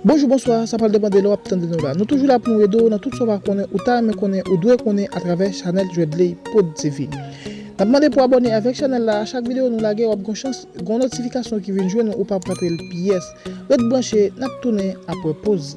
Bonjou bonswa sa pral depan de lè wap tande nou la nou toujou la pou nou ede w nan tout sa w pa konnen ou ta renmen konnen ou dwe konnen atravè chanèl Djwedley prod TV nap mande pou abòne avèk chanèl la a chak videyo nou lage wap gon chans gon notifikasyon ki vin jwenn ou ou pap rate l pyès ret branche nap tounen aprè poz.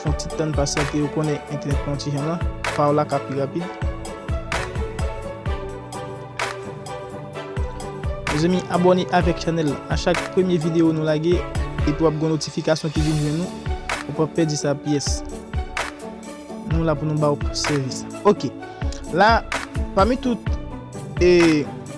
Fon ti tann pasyante ou konnen entènèt pran yon ti jan nan pa w la ka pi rapid. Mezanmi abòne avèk chanèl la a chak premye videyo nou lage epi wap gen yon notifikasyon ki vin jwenn ou ou pap pèdi sa pyès. Nou la pou nou ba w sèvis. Ok la pami tout e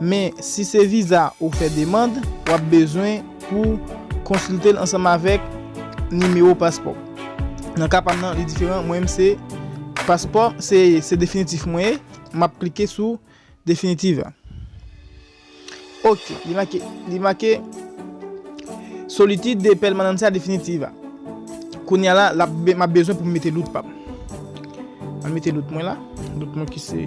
Men, si se viza ou fè demand, w ap bezwen pou w konsilte l ansanm avèk nimewo paspò w. Nan ka pa m nan, li diferan. Mwen menm se paspò, se definitif mwen ye. M ap klike sou definitif a. Ok, li make, li make Solicitud de Permanencia Definitiva. Kounye a la, m ap bezwen pou m mete dout pa m. M mete dout mwen la, dout mwen ki se.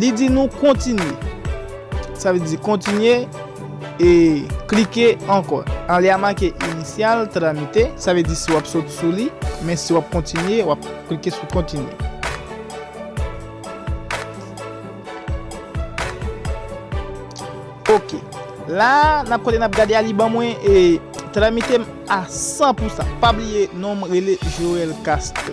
Li di nou kontinye. Sa vle di kontinye e klike ankò. An li a make Initial, Tramite. Sa vle di si wap sot sou li. Men si wap kontinye, wap klike sou kontinye. Ok. La a, nap kote nap gade a li ban mwen e Tramite m a 100 pou sa. Pa bliye non m rele Joel Castel.